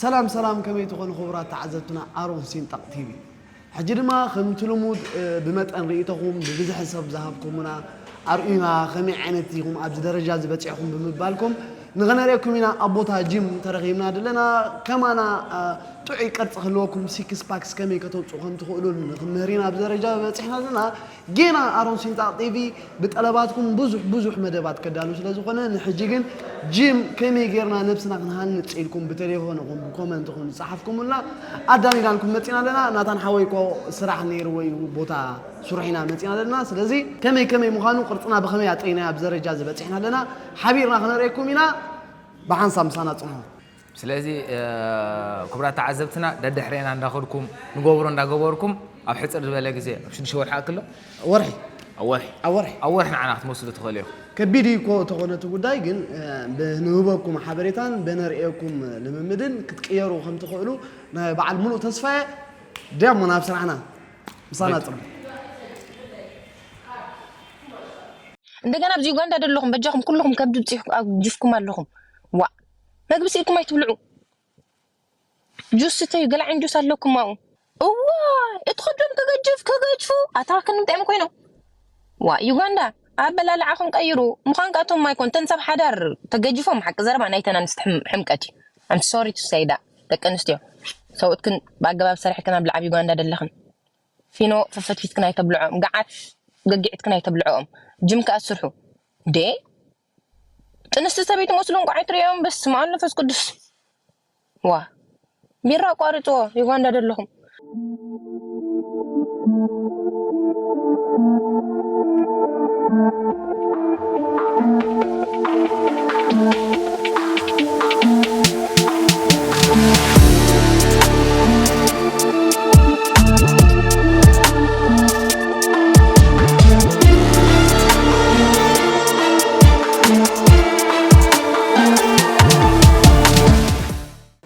ሰላም ሰላም ከመይ ትኾኑ ክቡራት ተዓዘብትና ኣሮን ሲንጣቅ ቲቪ ሕጂ ድማ ከምቲ ልሙድ ብመጠን ሪኢቶኹም ብብዝሒ ሰብ ዝሃብኩሙና ኣርእዩና ከመይ ዓይነት ኢኹም ኣብዚ ደረጃ እዚ በጺሕኹም ብምባልኩም ንኸነርእየኩም ኢና ኣብ ቦታ ጂም ተረኺብና ድለና ከማና ጥዑይ ቅርጺ ክህልወኩም ሲክስ ፓክስ ከመይ ከተውጽኡ ከም ትኽእሉን ክንምህር ኢና ኣብዚ ደረጃ በጺሕና ኣለና ጌና ኣሮን ሲንጣቅ ቲቪ ብጠለባትኩም ብዙሕ ብዙሕ መደባት ከዳሉ ስለ ዝኾነ ንሕጂ ግን ጂም ከመይ ጌርና ነብስና ክንሃንጽ ኢልኩም ብቴሌፎን ይኹን ብኮመንት ይኹን ዝጸሓፍኩምልና ኣዳሊናልኩም መጺና ኣለና ናታን ሓወይ እኮ ስራሕ ኔርዎ እዩ ቦታ ስሩሕ ኢና መጺና ኣለና ስለዚ ከመይ ከመይ ምዃኑ ቅርጽና ብኸመይ ኣጥሪናዮ ኣብ ዘረጃ እዚ በጺሕና ኣለና ሓቢርና ክነርእየኩም ኢና ብሓንሳብ ምሳና ጽንሑ። ስለዚ ክቡራት ተዓዘብትና ደድሕሬና እንዳኸድኩም ንገብሮ እንዳገበርኩም ኣብ ሕጽር ዝበለ ግዜ ኣብ ሽዱሽተ ወርሒ ይኣክል ዶ? ኣብ ወርሒ። ኣብ ወርሒ። ኣብ ወርሒ። ኣብ ወርሒ ንዓና ክትመልስሉ ትኽእሉ ኢኹም። ከቢድ እዩ እኮ ተኾነ እቲ ጉዳይ ግን ብንህበኩም ሓበሬታን በነርእየኩም ልምምድን ክትቅየሩ ከም ትኽእሉ ናይ በዓል ምሉእ ተስፋ እየ። ዲያ እሞ ናብ ስራሕና ምሳና ጽንሑ። እንደገና ኣብዚ ዩጋንዳ ደለኹም በጃኹም ኩሉኹም ከብዲ ጂፍኩም ኣለኹም ዋእ። መግቢ ስኢልኩም ኣይትብልዑ ጁስ ስተዩ ገለ ዓይነት ጁስ ኣለኩም ማኡ እዋይ እቲ ክዶም ክገጅፍ ክገጅፉ ኣታ ክንምጣዮም ኮይኖም ዋ ዩጋንዳ ኣበላልዓኹም ቀይሩ ምዃን ካቶም ማይኮን ተን ሰብ ሓዳር ተገጅፎም ሓቂ ዘረባ ናይተን ኣንስቲ ሕምቀት እዩ ኣም ሶሪ ቱ ሰይ ዳ ደቂ ኣንስትዮ ሰብኡትክን ብኣገባብ ሰርሕክን ኣብ ልዓብ ዩጋንዳ ደለኽን ፊኖ ፈፈትፊትክን ኣይተብልዖም ገዓት ገጊዕትክን ኣይተብልዖኦም ጅም ከኣ ስርሑ ዴ ጥንስቲ ሰበይቲ መስሉ እንቋዕ ኣይትርእዮም በስመ ኣብ መንፈስ ቅዱስ ዋ ቢራ ኣቋርፅዎ ዩጋንዳ ዘለኹም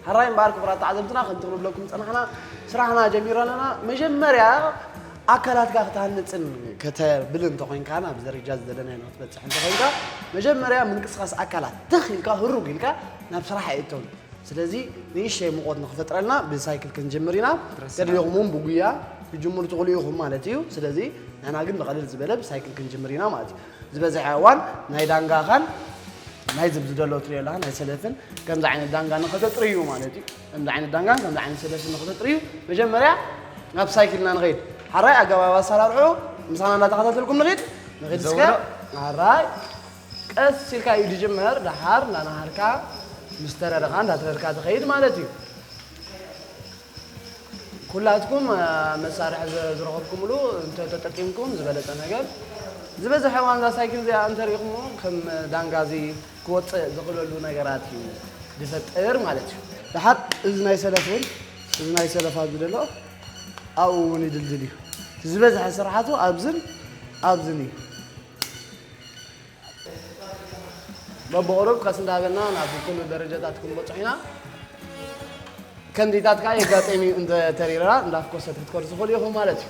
ሕራይ እምበኣር ክቡራት ተዓዘብትና ከምቲ ክንብለኩም ዝጸናሕና ስራሕና ጀሚሮ ኣለና መጀመርያ ኣካላትካ ክትሃንፅን ከተብል እንተኮይንካን ኣብ ደረጃ ዝደለናዮ ንክትበፅሕ እንተኮይንካ መጀመርያ ምንቅስቃስ ኣካላት ትኽ ኢልካ ህሩግ ኢልካ ናብ ስራሕ ኣይእተውን ስለዚ ንእሽተይ ሙቐት ንክፈጥረልና ብሳይክል ክንጅምር ኢና ተደሊኹም እውን ብጉያ ክጅምሩ ትኽእሉ ኢኹም ማለት እዩ ስለዚ ንሕና ግን ብቐልል ዝበለ ብሳይክል ክንጅምር ኢና ማለት እዩ ዝበዝሐ እዋን ናይ ዳንጋኻን ናይ ዝብ ዝደሎ ትሪዮላ ናይ ሰለፍን ከምዚ ዓይነት ዳንጋ ንኸተጥርዩ ማለት እዩ ከምዚ ዓይነት ዳንጋን ከምዚ ዓይነት ሰለፍን ንኸተጥርዩ መጀመርያ ናብ ሳይክልና ንኸይድ ሓራይ ኣገባብ ኣሰራርሑ ምሳና እንዳተኸታተልኩም ንኽድ ንኽድ እስከ ሓራይ ቀስ ኢልካ እዩ ዝጅመር ደሓር እንዳነሃርካ ምስ ተረርካ እንዳትረርካ ትኸይድ ማለት እዩ። ኩላትኩም መሳርሒ ዝረኸብኩምሉ እንተተጠቂምኩም ዝበለጸ ነገር ዝበዝሐ እዋን እዛ ሳይክል እዚኣ እንተሪእኹሞ ከም ዳንጋ እዚ ክወጽእ ዝኽእለሉ ነገራት እዩ ዝፈጥር ማለት እዩ። ደሓር እዚ ናይ ሰለፍ እውን እዚ ናይ ሰለፍ ኣብዚ ዘሎ ኣብኡ እውን ይድልድል እዩ። እቲ ዝበዝሐ ስርሓቱ ኣብዝን ኣብዝን እዩ። በብቑሩብ ቀስ እንዳበልና ናብ ኩሉ ደረጃታት ክንበፅሖ ኢና። ከንዲታት ከዓ የጋጥም እዩ እንተ ተሪራ እንዳፍኮሰት ክትከዱ ትኽእሉ ኢኹም ማለት እዩ።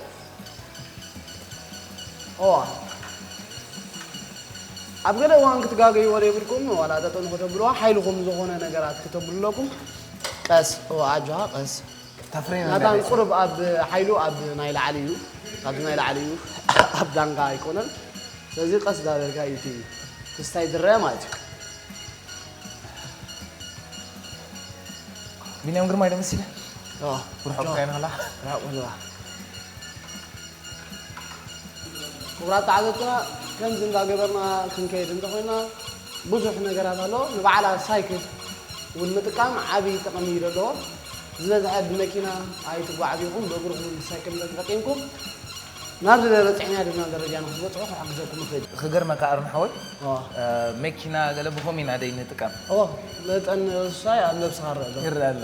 እዋ ኣብ ገለ እዋን ክትጋገይዎ ዘይብልኩም ዋላ ጠጠው ንክተብልዋ ሓይልኹም ዝኾነ ነገራት ክተብሉ ኣለኩም። ቀስ እዋ ኣጆኻ ቀስ ናታን ቁሩብ ኣብ ሓይሉ ኣብ ናይ ላዕሊ እዩ ካብዚ ናይ ላዕሊ እዩ ኣብ ዳንጋ ኣይኮነን ስለዚ ቀስ ዳበልካ እዩ እቲ ክስታይ ድረያ ማለት እዩ ቢንያም ግርማ ኢለ መሲለ ርሑቕ ካይና ላ ርሑቕ ኣለዋ ክቡራት ተዓዘብትና ከምዚ እንዳገበርና ክንከይድ እንተኮይና ብዙሕ ነገራት ኣሎ ንበዓላ ሳይክል እውን ምጥቃም ዓብዪ ጥቕሚ እዩ ዘለዎ ዝበዝሐ ብመኪና ኣይትጓዓዙ ኢኹም፣ ብእግርኹም ወይ ብሳይክል እንተ ተጠቂምኩም ናብ ዝደለ በጺሕናዮ ድብናዮ ደረጃ ንክትበጽሑ ክሕግዘኩም ይኽእል እዩ። ክገርመካ ኣሮን ሓወይ መኪና ገለ ብኸምኡ ኢና ደይ ንጥቀም። ኦ መጠን ውሳይ ኣብ ነብስኻ ይረኣ ዶ? ይረኣ ኣሎ።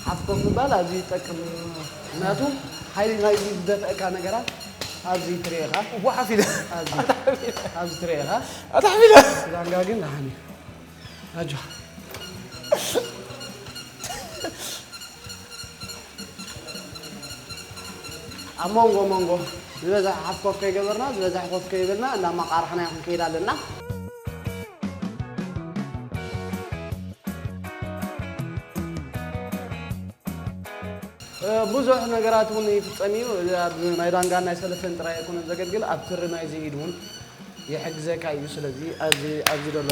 ሓፍ ኮፍ ምባል ኣዝዩ ይጠቅም እዩ ምክንያቱ ሓይሊ ናይ ዝደፍአካ ነገራት ኣብዚ ትርኢ ኢኻ እቦ ሓፍ ኢለ ኣብዚ ኣብዚ ትርኢ ኢኻ ኣታሕፍ ኢለ ዳንጋ ግን ደሓን እዩ ኣጆኻ ኣብ ሞንጎ ሞንጎ ዝበዝሐ ሓፍ ኮፍ ከይገበርና ዝበዝሐ ኮፍ ከይበልና እንዳማቓራሕና ኢና ክንከይድ ኣለና። ብዙሕ ነገራት እውን ይፍፀም እዩ ኣብዚ ናይ ዳንጋን ናይ ሰለስተን ጥራይ ኣይኮነን ዘገልግል ኣብ ትሪ ናይዚ ኢድ እውን ይሕግዘካ እዩ ስለዚ ኣብዚ ኣብዚ ዘሎ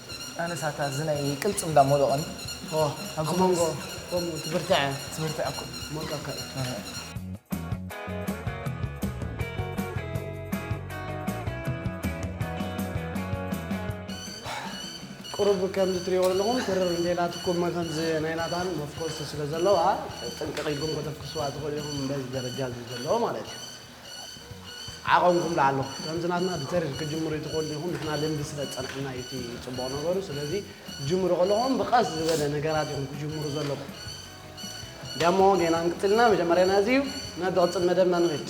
ኣነስ ኣታ እዚ ናይ ቅልጽም እንዳ ሞሎቕን ኣብ ሞንጎ ከምኡ ትብርትዐ ትብርትዐ እኮ ሞልቀካ እዩ ቁሩብ ከምዚ ትሪእዎ ዘለኹም ትርር እንተኢላትኩም መኸምዚ ናይ ናታን መፍኮስቲ ስለ ዘለዋ ጥንቅቕ ኢልኩም ከተፍኩስዋ ትኽእሉ ኢኹም በዚ ደረጃ እዚ ዘሎ ማለት እዩ። ዓቐንኩም ለኣሎ ከምዚ ናትና ብተሪኽ ክጅምሩ ኣይትኽእሉን ኢኹም ንሕና ልምዲ ስለ ዝጸንሐና እዩ እቲ ጽቡቕ ነገሩ ስለዚ ክትጅምሩ ከለኹም ብቐስ ዝበለ ነገራት ኢኹም ክጅምሩ ዘለኩም ደሞ ጌና ክንቅጽል ኢና መጀመርያ ናዚ እዩ ናብ ዝቕጽል መደብና ንኺድ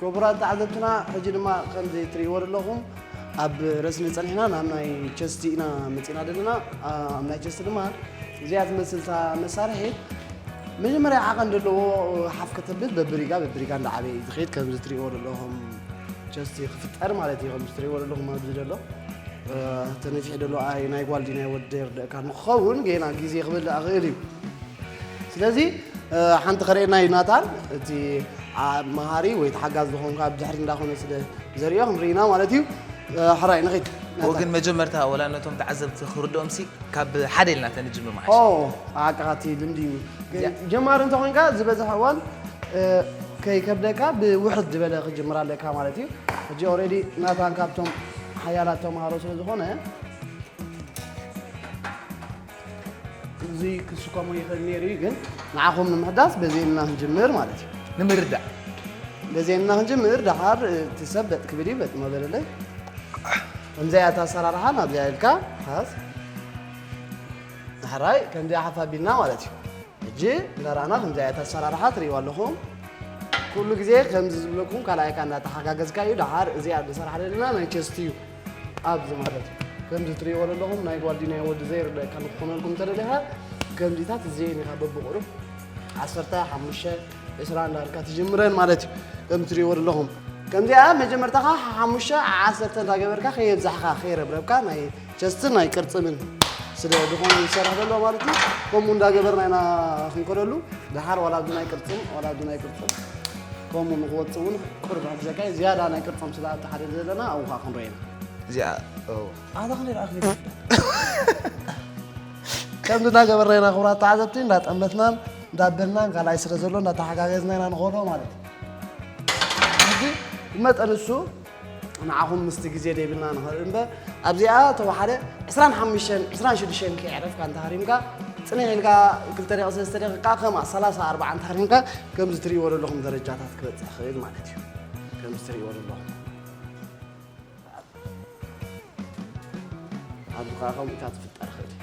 ክቡራት ተዓዘብትና ሕጂ ድማ ከምዚ እትርእይዎ ዘለኹም ኣብ ረስኒ ጸኒሕና ናብ ናይ ቸስቲ ኢና መጺእና ዘለና ኣብ ናይ ቸስቲ ድማ እዚኣ ትመስል እታ መሳርሒት መጀመርያ ዓቐን ዘለዎ ሓፍ ከተብል በብሪጋ በብሪጋ እንዳዓበየ እዩ ዝኸይድ ከምዚ እትርእይዎ ዘለኹም ቸስቲ ክፍጠር ማለት እዩ ከምዚ እትርእይዎ ዘለኹም ኣብዚ ዘሎ ተነፊሒ ዘሎ ኣይ ናይ ጓል ድዩ ናይ ወዲ የርድእካ ንክኸውን ገና ግዜ ክበልእ ኣኽእል እዩ ስለዚ ሓንቲ ከርእየና እዩ ናታን እቲ ኣብ መሃሪ ወይ ተሓጋዝ ዝኾንካ ብድሕሪት እንዳኾነ ስለ ዘርእዮ ክንርኢና ማለት እዩ ሕራይ ንኺድ ወግን መጀመርታ ወላ ነቶም ተዓዘብቲ ክርድኦም ሲ ካብ ሓደ ኢልና ተንጅምር መዓሽ ኦ ኣቃኻቲ ልምዲ እዩ ጀማሪ እንተኾንካ ዝበዝሐ እዋን ከይከብደካ ብውሕድ ዝበለ ክጅምር ኣለካ ማለት እዩ ሕጂ ኦልሬዲ ናታን ካብቶም ሓያላት ተምሃሮ ስለ ዝኾነ እዚ ክስከሞ ይኽእል ነይሩ እዩ ግን ንዓኹም ንምሕጋዝ በዚ እምና ክንጅምር ማለት እዩ ንምርዳእ በዚ እምና ክንጅምር ደሓር እቲ ሰብ በጥ ክብል እዩ በጥ መበለለይ ከምዚኣ እታ ኣሰራርሓ ናብዚኣ ኢልካ ሓዝ ዳሕራይ ከምዚኣ ሓፍ ኣቢልና ማለት እዩ ሕጂ እንዳረኣና ከምዚኣ እታ ኣሰራርሓ ትርእይዋ ኣለኹም ኩሉ ግዜ ከምዚ ዝብለኩም ካልኣይካ እንዳተሓጋገዝካ እዩ ደሓር እዚኣ ዝሰራሕ ዘለና ናይ ቸስቲ እዩ ኣብዚ ማለት እዩ ከምዚ ትርእይዎ ዘለኹም ናይ ጓልዲናይ ወዲ ዘይርደካ ንክኾነልኩም እንተደሊኻ ከምዚታት እዚኤን ኢኻ በብቑሩብ ዓሰርተ ሓሙሽተ ዕስራ እንዳልካ ትጅምረን ማለት እዩ ከምዚ ትርእይዎ ዘለኹም ከምዚኣ መጀመርታኻ ሓሙሽተ ዓሰርተ እንዳገበርካ ከየብዛሕካ ከይረብረብካ ናይ ቸስትን ናይ ቅርፅምን ስለ ዝኾነ ዝሰርሕ ዘሎ ማለት እዩ ከምኡ እንዳገበርና ኢና ክንከደሉ ድሓር ዋላ ኣብቲ ናይ ቅርፅም ዋላ ኣብቲ ናይ ቅርፅም ከምኡ ንክወፅ እውን ቅሩብ ሕፍ ዘካይ ዝያዳ ናይ ቅርፆም ስለ ኣተሓደ ዘለና ኣብኡ ከዓ ክንሪኦ ኢና እዚኣ ኣታክሊ ኣክሊ ከምዚ እናገበርና ኢና ክብራት ተዓዘብቲ እንዳጠመትናን እንዳበልናን ካልኣይ ስለ ዘሎ እንዳተሓጋገዝና ኢና ንኸዶ ማለት እዩ ሕጂ መጠን እሱ ንዓኹም ምስቲ ግዜ ደይብልና ንኸእል እምበር ኣብዚኣ ተወሓደ ዕስራን ሓሙሽተን ዕስራን ሽዱሽተን ከይዕረፍካ እንተሃሪምካ ጽኒሕ ኢልካ ክልተ ደቂ ሰለስተ ደቂቃ ከምኣ ሰላሳ ኣርባዓ እንተሃሪምካ ከምዚ ትርእይዎ ዘለኹም ደረጃታት ክበጽሕ ይኽእል ማለት እዩ ከምዚ ትርእይዎ ዘለኹም ኣብዚ ከዓ ከምኡታት ፍጠር ይኽእል እዩ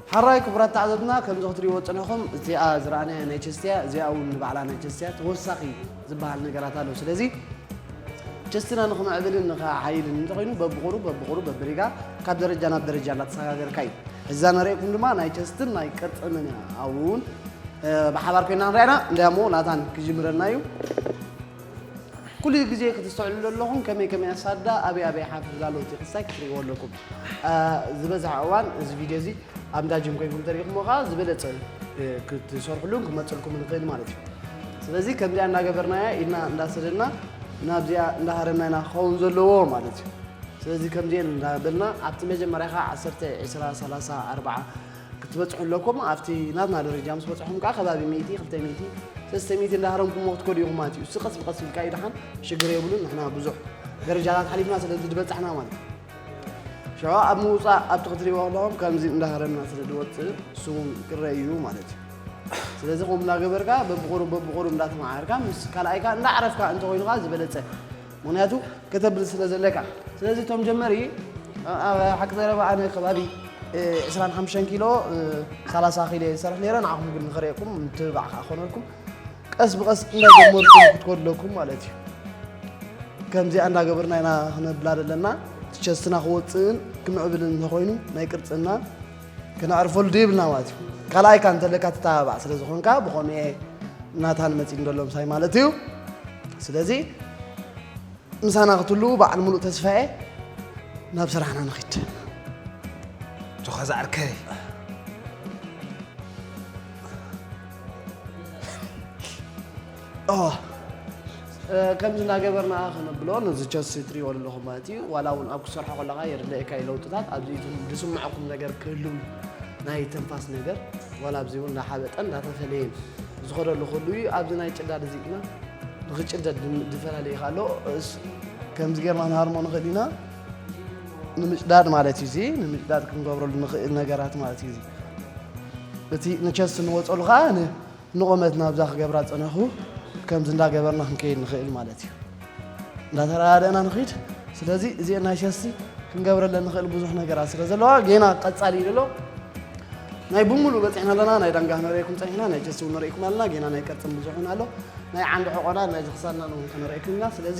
ሐራይ ክቡራት ተዓዘብትና ከምዚ ክትሪእዎ ዝጸናኹም እዚኣ ዝረኣናያ ናይ ቸስትያ እዚኣ ውን ንባዕላ ናይ ቸስትያ ተወሳኺ ዝበሃል ነገራት ኣሎ ስለዚ ቸስትና ንኽምዕብልን ንኽዓይልን እንተኾይኑ በብቑሩብ በብቑሩብ በብሪጋ ካብ ደረጃ ናብ ደረጃ እናተሰጋገርካ እዩ እዛ ነርእኩም ድማ ናይ ቸስትን ናይ ቅርጽምን እያ ኣውን ብሓባር ኮይና ንሪኣና እንዳ እሞ ናታን ክጅምረልና እዩ ኩሉ ግዜ ክትስተውዕሉ ኣለኹም ከመይ ከመይ ኣሳዳ ኣበይ ኣበይ ሓፍ ዝላሎት ክሳይ ክትሪእዎ ኣለኩም ዝበዝሐ እዋን እዚ ቪድዮ እዚ ኣብ እንዳ ጅም ኮይንኩም ተሪኢኹሞ ከዓ ዝበለፀ ክትሰርሕሉን ክመፅልኩም ንኽእል ማለት እዩ ስለዚ ከምዚኣ እናገበርናያ ኢድና እንዳሰደድና ናብዚኣ እንዳሃረምና ኢና ክኸውን ዘለዎ ማለት እዩ ስለዚ ከምዚኤን እንዳበልና ኣብቲ መጀመርያ ከዓ ዓሰርተ ዕስራ ሰላሳ ኣርባዓ ክትበፅሑ ኣለኩም ኣብቲ ናትና ደረጃ ምስ በፅሑም ከዓ ከባቢ ሚእቲ ክልተ ሚእቲ ሰለስተ ሚእቲ እንዳሃረምኩሞ ክትከዱ ኢኹም ማለት እዩ እሱ ቀስ ብቀስ ኢልካ ይድሓን ሽግር የብሉን ንሕና ብዙሕ ደረጃታት ሓሊፍና ስለዚ ዝበፃሕና ማለት እዩ ሸዋ ኣብ ምውፃእ ኣብቲ ክትሪእዎ ኣለኹም ከምዚ እንዳሃረምና ስለ ዝወፅእ ስሙም ቅረ እዩ ማለት እዩ ስለዚ ከምኡ እናገበርካ በብቑሩብ በብቑሩብ እንዳተመዓርካ ምስ ካልኣይካ እንዳዕረፍካ እንተኮይኑካ ዝበለፀ ምክንያቱ ከተብል ስለ ዘለካ ስለዚ እቶም ጀመሪ ኣብ ሓቂ ዘረባ ኣነ ከባቢ እ፣ 25 ኪሎ እ፣ 30 ኪሎ እየ ዝሰርሕ ነይረ ንዓኹም ግን ንኽርእየኩም ምትብባዕ ከዓ ክኾነልኩም ቀስ ብቐስ እንዳጀመርኩም ክትኮዱ ኣለኩም ማለት እዩ ከምዚኣ እንዳገበርና ኢና ክነብላ ዘለና ቸስትና ክወፅእን ክምዕብልን እንተኮይኑ ናይ ቅርፅና ክነዕርፈሉ ደይብልና ማለት እዩ ካልኣይ ካ እንተለካ ትተባባዕ ስለ ዝኾንካ ብኾኑ እየ ናታን መፂ ንደሎ ምሳይ ማለት እዩ ስለዚ ምሳና ክትህልው በዓል ሙሉእ ተስፋ እየ ናብ ስራሕና ንኽድ ዝኾዛ ዕርከይ ከምዚ እናገበርና ክንብሎ ነዚ ቸሲ ትሪእዎ ኣለኹም ማለት እዩ ዋላ እውን ኣብ ክሰርሖ ከለካ የድለየካ እዩ ለውጥታት ኣብዚ ዝስምዐኩም ነገር ክህሉ ናይ ትንፋስ ነገር ዋላ ኣብዚ እውን እናሓበጠን እናተፈለየን ዝኸደሉ ክህሉ እዩ ኣብዚ ናይ ጭዳድ እዚ ግና ንክጭደድ ዝፈላለየ ኣሎ ከምዚ ገርና ንሃርሞ ንኽእል ኢና ንምጭዳድ ማለት እዩ እዚ ንምጭዳድ ክንገብረሉ ንኽእል ነገራት ማለት እዩ እቲ ንቸስ እንወፀሉ ከዓ ንቆመት ናብዛ ክገብራ ፀነኹ ከምዚ እንዳገበርና ክንከይድ ንኽእል ማለት እዩ እንዳተረዳደእና ንኽድ ስለዚ እዚ ናይ ቸስቲ ክንገብረለ ንኽእል ብዙሕ ነገራት ስለ ዘለዋ ጌና ቀፃሊ እዩ ዘሎ ናይ ብምሉእ በፂሕና ኣለና ናይ ዳንጋ ክንሪእኩም ፀኒሕና ናይ ቸስቲ እውን ንሪእኩም ኣለና ጌና ናይ ቀፅን ብዙሕ እውን ኣሎ ናይ ዓንዲ ሕቆና ናይ ዝክሳድና እውን ክንሪእኩም ኢና ስለዚ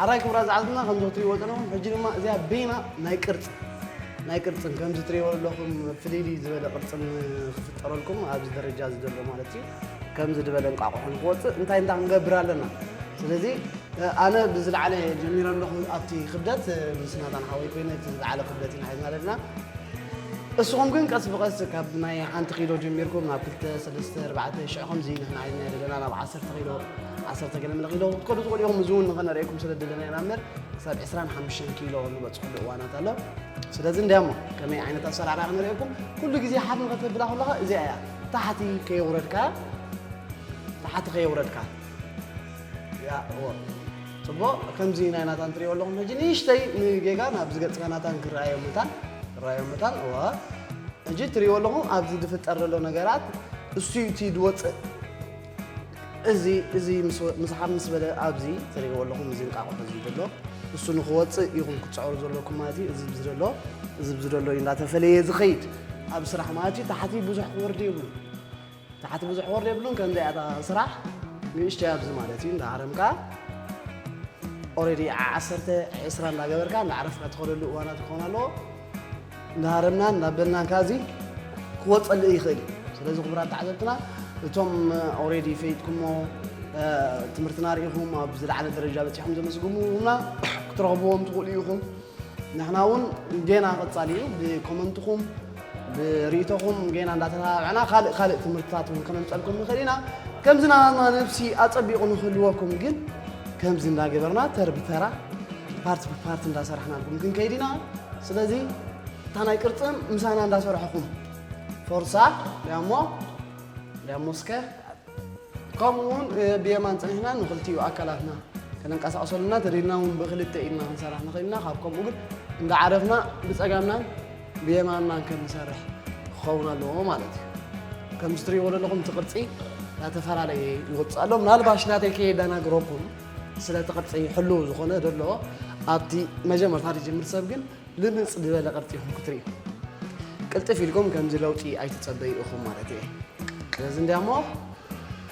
ሐራይ ክብራት ዝሓዝና ከምዚ ክትሪእዎ ዘለኹም ሕጂ ድማ እዚኣ በይና ናይ ቅርጽ ናይ ቅርጽን ከምዚ ትሪእዎ ዘለኹም ፍልይልይ ዝበለ ቅርጽን ክፍጠረልኩም ኣብዚ ደረጃ እዚ ዘሎ ማለት እዩ ከምዚ ዝበለ እንቋቑሖ ንክወጽእ እንታይ እንታይ ክንገብር ኣለና ስለዚ ኣነ ብዝለዓለ ጀሚረ ኣለኹ ኣብቲ ክብደት ምስ ናታን ሓወይ ኮይነ እቲ ዝለዓለ ክብደት ኢና ሓዝና ዘለና እስኹም ግን ቀስ ብቐስ ካብ ናይ ሓንቲ ኪሎ ጀሚርኩም ናብ ክልተ ሰለስተ ኣርባዕተ ሽዑ ከምዚ ንሕና ሓዝና ዘለና ናብ ዓሰርተ ኪሎ ዓሰርተ ገለ ምለ ኪሎ ክትከዱ ትኽእሉ ኢኹም እዚ እውን ንኸነርእየኩም ስለ ድለና ኢና እምበር ክሳብ 25 ኪሎ ንበፅሕሉ እዋናት ኣሎ ስለዚ እንድያ እሞ ከመይ ዓይነት ኣሰራርያ ክነርእየኩም ኩሉ ግዜ ሓፍ ንኸተብላ ከለኻ እዚኣ እያ ታሕቲ ከየውረድካ ታሕቲ ከየውረድካ ያ እዎ ፅቡቕ ከምዚ ናይ ናታን ትሪኦ ኣለኹም ሕጂ ንእሽተይ ንጌጋ ናብዚ ገፅካ ናታን ክረኣዮ መታን ክረኣዮ መታን እዋ ሕጂ ትሪኦ ኣለኹም ኣብዚ ዝፍጠር ዘሎ ነገራት እሱ እቲ ዝወፅእ እዚ እዚ ምስሓብ ምስ በለ ኣብዚ ትሪእዎ ኣለኹም እዚ እንቃቑሑ እዚ ዘሎ እሱ ንክወፅእ ኢኹም ክትፅዕሩ ዘለኩም ማለት እዩ እዚ ብዚ ዘሎ እዚ ብዚ ዘሎ እዩ እንዳተፈለየ ዝኸይድ ኣብ ስራሕ ማለት እዩ ታሕቲ ብዙሕ ክወርድ የብሉን ታሕቲ ብዙሕ ክወርድ የብሉን ከምዚ ኣታ ስራሕ ንእሽተይ ኣብዚ ማለት እዩ እንዳሃረምካ ኦልሬዲ ዓሰርተ ዕስራ እንዳገበርካ እንዳዕረፍካ ትኸደሉ እዋናት ክኾን ኣለዎ እንዳሃረምናን እንዳበልናን ከኣ እዚ ክወጸልእ ይኽእል እዩ ስለዚ ክቡራት ተዓዘብትና እቶም ኦሬዲ ፈይጥኩሞ ትምህርትና ርኢኹም ኣብ ዝለዓለ ደረጃ በፂሖም ዘመስግሙና ክትረኽብዎም ትኽእሉ ኢኹም ንሕና እውን ጌና ቀፃሊ እዩ ብኮመንትኹም ብርእቶኹም ጌና እንዳተተባብዕና ካልእ ካልእ ትምህርትታት እውን ከነምፀልኩም ንኽእል ኢና ከምዚ ናባና ነብሲ ኣፀቢቑ ንክህልወኩም ግን ከምዚ እንዳገበርና ተር ብተራ ፓርት ብፓርት እንዳሰራሕናልኩም ክንከይድ ኢና ስለዚ እታ ናይ ቅርፅም ምሳና እንዳሰርሐኹም ፎርሳ ሊያሞ ሊያሞ እስከ ከምኡ እውን ብየማን ፅኒሕና ንክልቲኡ ኣካላትና ከነንቀሳቕሰሉና ተደልና እውን ብክልተ ኢድና ክንሰራሕ ንኽእል ኢና ካብ ከምኡ ግን እንዳዓረፍና ብፀጋምናን ብየማን ማንከ መሳርሕ ክኸውን ኣለዎ ማለት እዩ ከምዚ ትሪእዎ ዘለኹም እቲ ቅርፂ ናተፈላለየ ይወፅእ ኣሎ ምናልባሽ ናተይ ከየደናግረኩም ስለ እቲ ቅርፂ ሕልው ዝኾነ ዘሎ ኣብቲ መጀመርታ ዝጅምር ሰብ ግን ልምፅ ዝበለ ቅርፂ ይኹም ክትሪዩ ቅልጥፍ ኢልኩም ከምዚ ለውጢ ኣይትፀበዩ ኢኹም ማለት እየ ስለዚ እንዲያ እሞ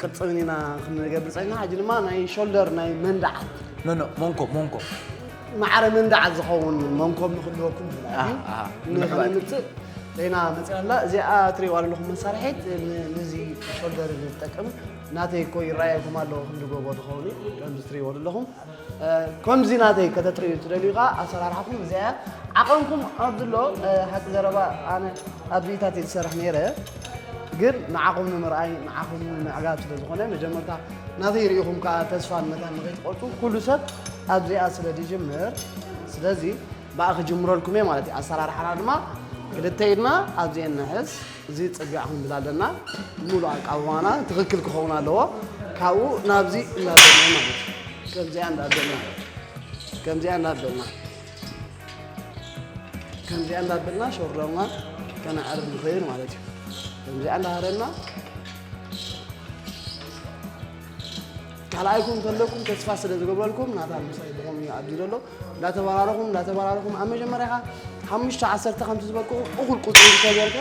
ቅርፅን ኢና ክንገብር ፀኒሕና ሕጂ ድማ ናይ ሾልደር ናይ መንድዓት ኖኖ ሞንኮ ሞንኮ ማዕረ መንድዓት ዝኸውን መንኮብ ንክልወኩም ንክንምፅእ ዜና መፅያ ኣላ እዚኣ ትሪእዋ ዘለኹም መሳርሒት ንዚ ሾልደር ዝጠቅም ናተይ እኮ ይረኣየኩም ኣሎ ክንዲ ጎቦ ዝኸውን እዩ ከምዚ ትሪእዎ ዘለኹም ከምዚ ናተይ ከተጥርዩ ትደልዩ ከኣ ኣሰራርሓኹም እዚኣ እያ ዓቐንኩም ኣብዚ ኣሎ ሓቂ ዘረባ ኣነ ኣብ ዚኢታት እየ ዝሰርሕ ነይረ ግን ንዓኹም ንምርኣይ ንዓኹም ንምዕጋብ ስለ ዝኾነ መጀመርታ ናተይ ርኢኹም ከዓ ተስፋ ንመታን ንኸይትቆርፁ ኩሉ ሰብ ኣብዚኣ ስለ ዝጅምር ስለዚ ብኣ ክጅምረልኩም እየ ማለት እዩ ኣሰራርሓና ድማ ክልተ ኢድና ኣብዚኤን ንሕዝ እዚ ፅርግያ ኣሁን ብዛለና ሙሉእ ኣቃውማና ትኽክል ክኸውን ኣለዎ። ካብኡ ናብዚ እናበልና ማለት እዩ። ከምዚኣ እንዳበልና ከምዚኣ እንዳበልና ከምዚኣ እንዳበልና ሾርለማ ከነዕርብ ንኽእል ማለት እዩ። ከምዚኣ እንዳሃረና ካልኣይኩም እንተለኩም ተስፋ ስለ ዝገብረልኩም ናታ ምሳይ ድኾም እዩ ኣቢሉ ኣሎ እንዳተበራረኹም እንዳተበራረኹም ኣብ መጀመርያ ኸዓ ሓሙሽተ ዓሰርተ ከምቲ ዝበቅዑ እኹል ቁፅሪ እንተገይርካ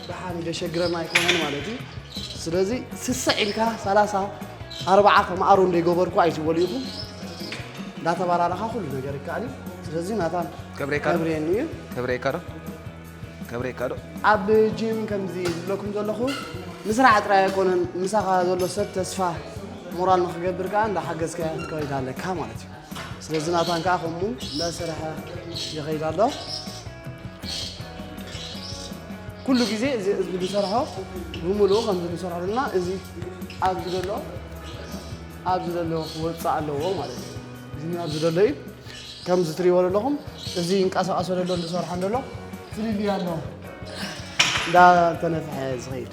ደሓን እዩ ዘሸግረና ኣይኮነን ማለት እዩ ስለዚ ስስዕ ኢልካ ሰላሳ ኣርባዓ ከም ኣሮ እንደይገበርኩ ኣይትበሉ ኢኹም እንዳተበራረኻ ኩሉ ነገር ይከኣል እዩ ስለዚ ናታን ከብሬካ ዶ? ከብሬኒ እዩ ከብሬካ ዶ ከብሬካ ዶ ኣብ ጂም ከምዚ ዝብለኩም ዘለኹ ምስራሕ ጥራይ ኣይኮነን ምሳኻ ዘሎ ሰብ ተስፋ ሞራል ንክገብር ከዓ እንዳሓገዝካዮ ክትከይድ ኣለካ ማለት እዩ ስለዚ ናታን ከዓ ከምኡ እናሰርሐ ይኸይድ ኣሎ ኩሉ ግዜ እዚ እዚ ንሰርሖ ብምሉኡ ከምዚ ንሰርሖ ዘለና እዚ ኣብዚ ዘሎ ኣብዚ ዘሎ ክወፅእ ኣለዎ ማለት እዩ እዚ ኣብዚ ዘሎ እዩ ከምዚ ትሪእዎ ዘለኹም እዚ ይንቀሳቐሶ ዘሎ ንሰርሖ ዘሎ ፍልልይ ኣሎ እንዳተነፍሐ ዝኸይድ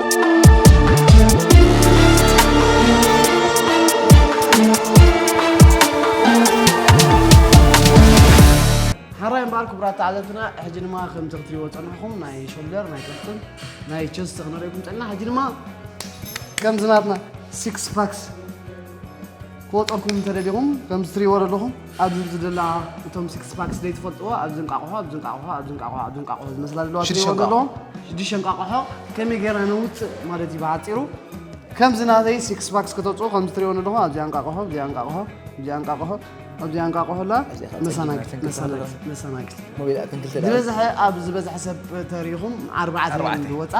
ሓራይ እምበኣር ክቡራት ተዓዘብትና ሕጂ ድማ ከምቲ ክትሪእዎ ዝጸናሕኩም ናይ ሾልደር ናይ ከፍትን ናይ ቸስት ክንሪእኩም ጸና ሕጂ ድማ ከምዚ ናትና ሲክስ ፓክስ ክወጠኩም እንተደሊኹም ከምዚ ትሪእዎ ዘለኹም ኣብዚ ዝደላ እቶም ሲክስ ፓክስ ዘይትፈልጥዎ ኣብዚ እንቃቕሖ ኣብዚ እንቃቕሖ ኣብዚ እንቃቕሖ ኣብዚ እንቃቕሖ ዝመስላ ዘለዋ ትሪእዎ ዘለኹም ሽዱሽተ እንቃቕሖ ከመይ ጌርና ነውፅእ ማለት እዩ ብሓፂሩ ከምዚ ናተይ ሲክስ ፓክስ ከተውፅኡ ከምዚ ትሪእዎ ዘለኹም ኣብዚኣ እንቃቕሖ ኣብዚኣ እንቃቕሖ ኣብዚኣ እንቃቕሖ ኣብዚኣ እንቃቕሖ ላ መሳናጊት መሳናጊት መሳናጊት ዝበዝሐ ኣብ ዝበዝሐ ሰብ ተሪኢኹም ኣርባዕተ ዝወፃ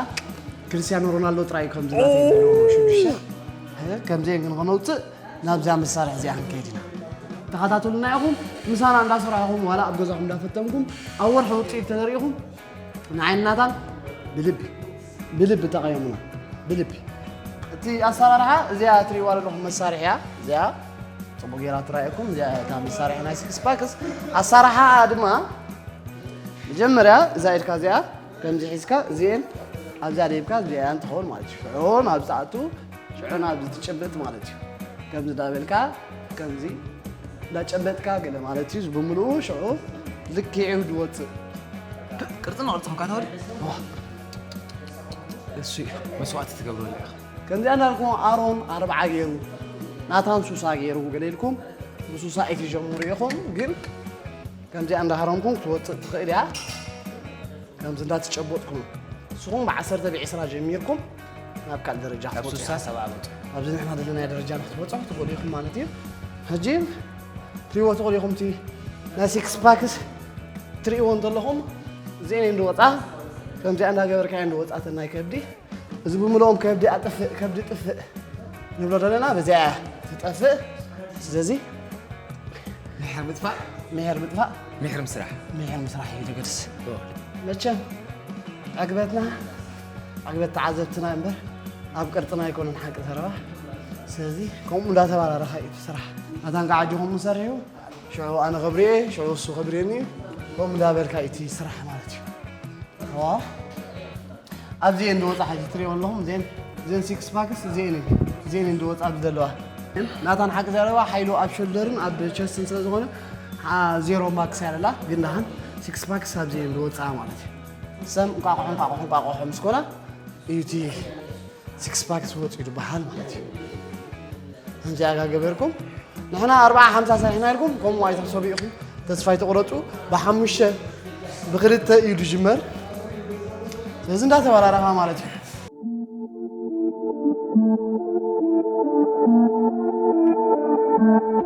ክርስትያኖ ሮናልዶ ጥራይ እዩ ከምዚ ናተይ ዘለዎ ሽዱሽተ ከምዘይ ንኸነውፅእ ናብዛ መሳርሒ እዚኣ ክንከይድ ኢና ተኸታተሉና ኢኹም ምሳና እንዳሰራሕኹም ዋላ ኣብ ገዛኹም እንዳፈተንኩም ኣብ ወርሒ ውፅኢት ተዘሪኢኹም ንዓይን ናታን ብልቢ ብልቢ ጠቐየሙና ብልቢ እቲ ኣሰራርሓ እዚኣ ትሪእዋ ዘለኹም መሳርሒ እያ እዚኣ ፅቡቅ ጌራ ትራእየኩም እዚኣ እታ መሳርሒ ናይ ስክስ ፓክስ ኣሰራርሓ ድማ መጀመርያ እዛ ኢድካ እዚኣ ከምዚ ሒዝካ እዚኤን ኣብዛ ደብካ እዚኣያን ትኸውን ማለት እዩ ሽዑ ናብ ዝኣቱ ሽዑ ናብ ዝትጭብጥ ማለት እዩ ከምዚ ዳበልካ ከምዚ ዳጨበጥካ ገለ ማለት እዩ ብምልኡ ሽዑ ልኪዑ ዝወፅእ ቅርፅን ቅርፂ ክንካ ተወል እሱ እዩ መስዋእቲ ትገብረሉ ኢኻ ከምዚኣ እንዳልኩም ኣሮን ኣርብዓ ገይሩ ናታን ሱሳ ገይሩ ገለ ኢልኩም ብሱሳ ኢትጀምሩ ኢኹም ግን ከምዚኣ እንዳሃረምኩ ክትወፅእ ትኽእል እያ ከምዚ እንዳተጨበጥኩም ንስኹም ብዓሰርተ ብዒስራ ጀሚርኩም ናብ ካልእ ደረጃ ካብ ክትወፁ ስሳ ኢኹም። ሰብዓ መጡ ኣብዚ ንሕና ዘለናዮ ደረጃ ንክትበፅሑ ትኽእሉ ኢኹም ማለት እዩ ሕጂ ትሪእዎ ትኽእሉ ኢኹም እቲ ናይ ሲክስ ፓክስ ትሪእዎ እንተለኹም እዚአን እየን ዝወፃ ከምዚኣ እንዳገበርካ እየን ዝወፃ እተን ናይ ከብዲ እዚ ብምልኦም ከብዲ ኣጥፍእ ከብዲ ጥፍእ ንብሎ ዘለና በዚኣ እያ ትጠፍእ ስለዚ ምሕር ምጥፋእ ምሕር ምጥፋእ ምሕር ምስራሕ ምሕር ምስራሕ እዩ ዝገድስ መቸም ዕግበትና ዕግበት ተዓዘብትና እምበር ኣብ ቅርፅና ኣይኮነን ሓቂ ዘረባ ስለዚ ከምኡ እንዳተባራረኻ እዩ ስራሕ ኣታ እንቃዕ ኣጆኹም ንሰርሑ ሽዑ ኣነ ክብርየ ሽዑ እሱ ክብርየኒ ከምኡ እንዳበልካ እዩ እቲ ስራሕ ማለት እዩ ዋ ኣብዚ እየን ዝወፃ ሓጂ ትሪኦ ኣለኹም እዚአን እዚአን ሲክስ ፓክስ እዚአን እዩ እዚአን እየን ዝወፃ ኣብዚ ዘለዋ ግን ናታን ሓቂ ዘለዋ ሓይሉ ኣብ ሾልደርን ኣብ ቸስትን ስለ ዝኾነ ሓ- ዜሮ ማክስ ያለላ ግን ዳሓን ሲክስ ፓክስ ኣብዚ እየን ዝወፃ ማለት እዩ ሰም እንቋቑሖ እንቋቑሖ እንቋቑሖ ምስ ኮና እዩ እቲ ሲክስ ፓክስ ወፅኡ ዝበሃል ማለት እዩ ከምዚ ኣጋ ገበርኩም ንሕና ኣርባዓ ሓምሳ ሰሪሕና ኢልኩም ከምኡ ኣይትሕሰቡ ኢኹም ተስፋ ኣይተቑረፁ ብሓሙሽተ ብክልተ እዩ ዝጅመር ስለዚ እንዳተበራረኻ ማለት እዩ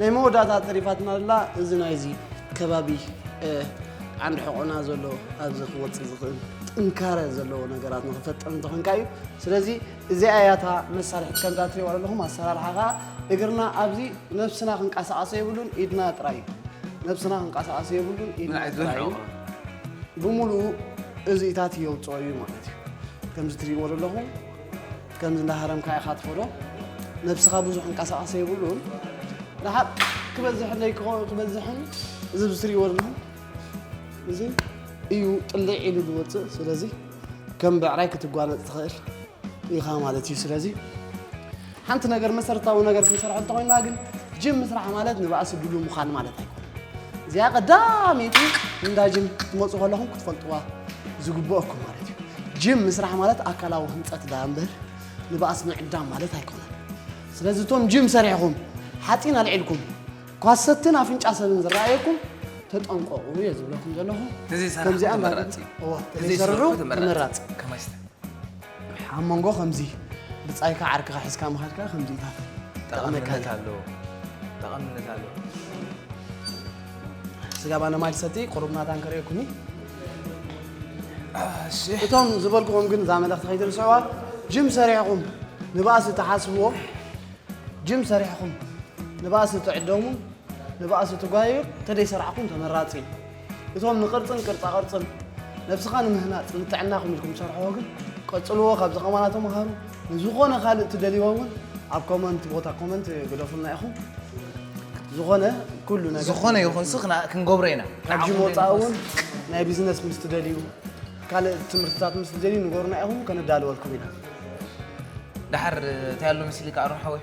ናይ መወዳእታ ተሪፋትና ዘላ እዚ ናይዚ ከባቢ ዓንዲ ሕቆና ዘሎ ኣብዚ ክወፅእ ዝኽእል ጥንካረ ዘለዎ ነገራት ንክፈጥር እንተኾንካ እዩ ስለዚ እዚኣ እያ እታ መሳርሒት ከምዛ ትሪእዋ ዘለኹም ኣሰራርሓ ከዓ እግርና ኣብዚ ነብስና ክንቀሳቀሰ የብሉን ኢድና ጥራይ ነብስና ክንቀሳቀሰ የብሉን ኢድና ጥራይ ብምሉኡ እዚኢታት የውፅኦ እዩ ማለት እዩ ከምዚ ትሪእዎ ዘለኹም ከምዚ እንዳሃረምካ ኢኻ ትኸዶ ነብስኻ ብዙሕ እንቀሳቐሰ የብሉን ረሓቕ ክበዝሕለይ ክበዝሕን እዚ ብትሪእዎ ኣለኹም እዚ እዩ ጥልዕ ኢሉ ዝወፅእ ስለዚ ከም ብዕራይ ክትጓነፅ ትኽእል ኢኻ ማለት እዩ ስለዚ ሓንቲ ነገር መሰረታዊ ነገር ክንሰርሐ እንተኮይና ግን ጅም ምስራሕ ማለት ንባእሲ ድሉ ምዃን ማለት ኣይኮነ እዚኣ ቀዳመይቲ እንዳ ጅም ክትመፁ ከለኹም ክትፈልጥዋ ዝግብኦኩም ማለት እዩ ጅም ምስራሕ ማለት ኣካላዊ ህንፀት ዳ እምበር ንባእስ ምዕዳም ማለት ኣይኮነን ስለዚ እቶም ጅም ሰሪሕኹም ሓፂን ኣልዒልኩም ኳሰትን ኣፍንጫ ሰብን ዝረኣየኩም ተጠንቀቑ እየ ዝብለኩም ዘለኹ ተዘይሰራሕኩ ከምዚኣ እንዳ- ተመራፂ እዩ። እወ፣ ተዘይሰራሕኩ ተዘይሰርሑ ተመራፂ ተመራፂ እዩ። ከመይ ስተ- ኣብ መንጎ ከምዚ ብጻይካ ዓርክኻ ሒዝካ ምኻድካ ከምዚታት ጠቕመካ ጠቐምነት ኣለዎ ጠቐምነት ኣለዎ ስጋ ባነ ማይ ሰቲ ቁሩብ ናታን ከርእየኩኒ እቶም ዝበልኩኹም ግን እዛ መልእኽቲ ከይትርስዕዋ ጅም ሰሪሕኹም ንባእሲ ትሓስብዎ ጅም ሰሪሕኹም ንባእሲ ትዕደሙ ንባእሲ ትጓየዩ ተደይሰርዕኹም ተመራፂ እዩ እቶም ንቅርፅን ቅርፃ ቅርፅን ነብስኻ ንምህናፅ ንጥዕናኹም ኢልኩም ትሰርሕዎ ግን ቀፅልዎ ካብዚ ከማና ተምሃሩ ንዝኾነ ካልእ ትደልይዎ እውን ኣብ ኮመንት ቦታ ኮመንት ግደፉልና ኢኹም ዝኾነ ኩሉ ነገር ዝኾነ ይኹን ሲ ክና- ክንገብሮ ኢና ካብ ጂም ወፃኢ እውን ናይ ቢዝነስ ምስ ትደልዩ ካልእ ትምህርትታት ምስ ትደልዩ ንገሩና ኢኹም ከነዳልወልኩም ኢና ድሓር እንታይ ኣሎ ምስልካ ኣሮን ሓወይ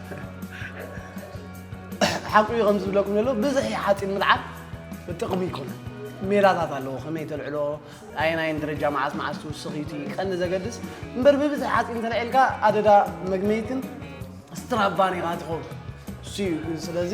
ሓቁ እዩ ከም ዝብለኩም ዘሎ ብዝሒ ሓፂን ምልዓል ጥቕሚ ኣይኮነን ሜላታት ኣለዎ ከመይ ተልዕሎ ኣየናይን ደረጃ መዓስ መዓስ ትውስኽ እዩ እቲ ቀንዲ ዘገድስ እምበር ብብዝሒ ሓፂን ተልዒልካ ኣደዳ መግመይትን ስትራባን ኢኻ ትኸውን እሱ እዩ ስለዚ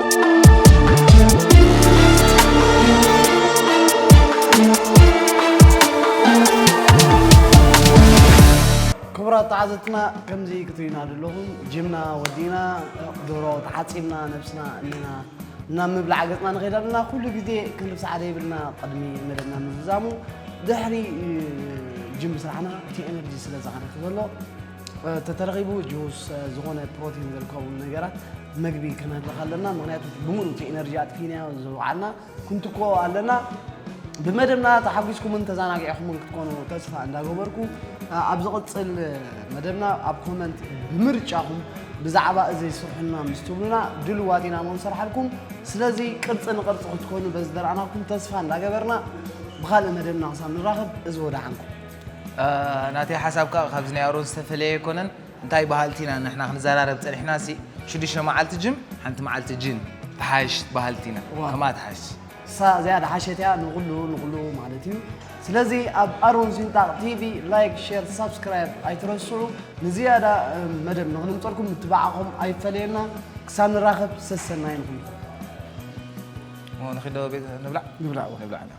ክቡራት ተዓዘብትና ከምዚ ክትሪና ዘለኹም ጅምና ወዲእና ዶሮ ተሓፂብና ነብስና እኒና ናብ ምብላዕ ገፅና ንኸይድ ኣለና ኩሉ ግዜ ክንርስ ሓደ ይብልና ቅድሚ መደብና ምዝዛሙ ድሕሪ እ፣ ጅም ስራሕና እቲ ኤነርጂ ስለ ዝሃነክ ዘሎ ተተረኺቡ ጁስ ዝኾነ ፕሮቲን ዘልከቡ ነገራት መግቢ ከነህልኽ ኣለና ምክንያቱ ብምሉእ እቲ ኤነርጂ ኣጥፊናዮ ዝውዓልና ክንትኮ ኣለና ብመደብና ተሓጒስኩምን ተዘናጊዕኹምን ክትኮኑ ተስፋ እንዳገበርኩ ኣብ ዝቕፅል መደብና ኣብ ኮመንት ብምርጫኹም ብዛዕባ እዚ ስርሑና ምስ ትብሉና ድልዋት ኢና ሞ ንሰርሓልኩም ስለዚ ቅርፂ ንቅርፂ ክትኮኑ በዚ ደረኣናኩም ተስፋ እንዳገበርና ብካልእ መደብና ክሳብ ንራኸብ እዚ ወደሓንኩም ናተይ ሓሳብ ከኣ ካብዚ ናይ ኣሮን ዝተፈለየ ኣይኮነን እንታይ በሃልቲ ኢና ንሕና ክንዘራረብ ጸኒሕና ሲ ሽዱሽተ መዓልቲ ጅም ሓንቲ መዓልቲ ጂን ትሓይሽ በሃልቲ ኢና ዋው። ከምኣ ትሓይሽ እሳ እዚኣ ድሓሸት እያ ንኹሉ ንኹሉ ማለት እዩ ስለዚ ኣብ ኣሮን ሲንጣቕ ቲቪ ላይክ ሼር ሳብስክራይብ ኣይትረስዑ ንዝያዳ እ፣ መደብ ንኽንምፀልኩም ምትብባዕኹም ኣይፈለየና ክሳብ ንራኸብ ሰሰናይ ንኹልኩም ንኺዶ ቤት ንብላዕ ንብላዕ እዋ። ንብላዕ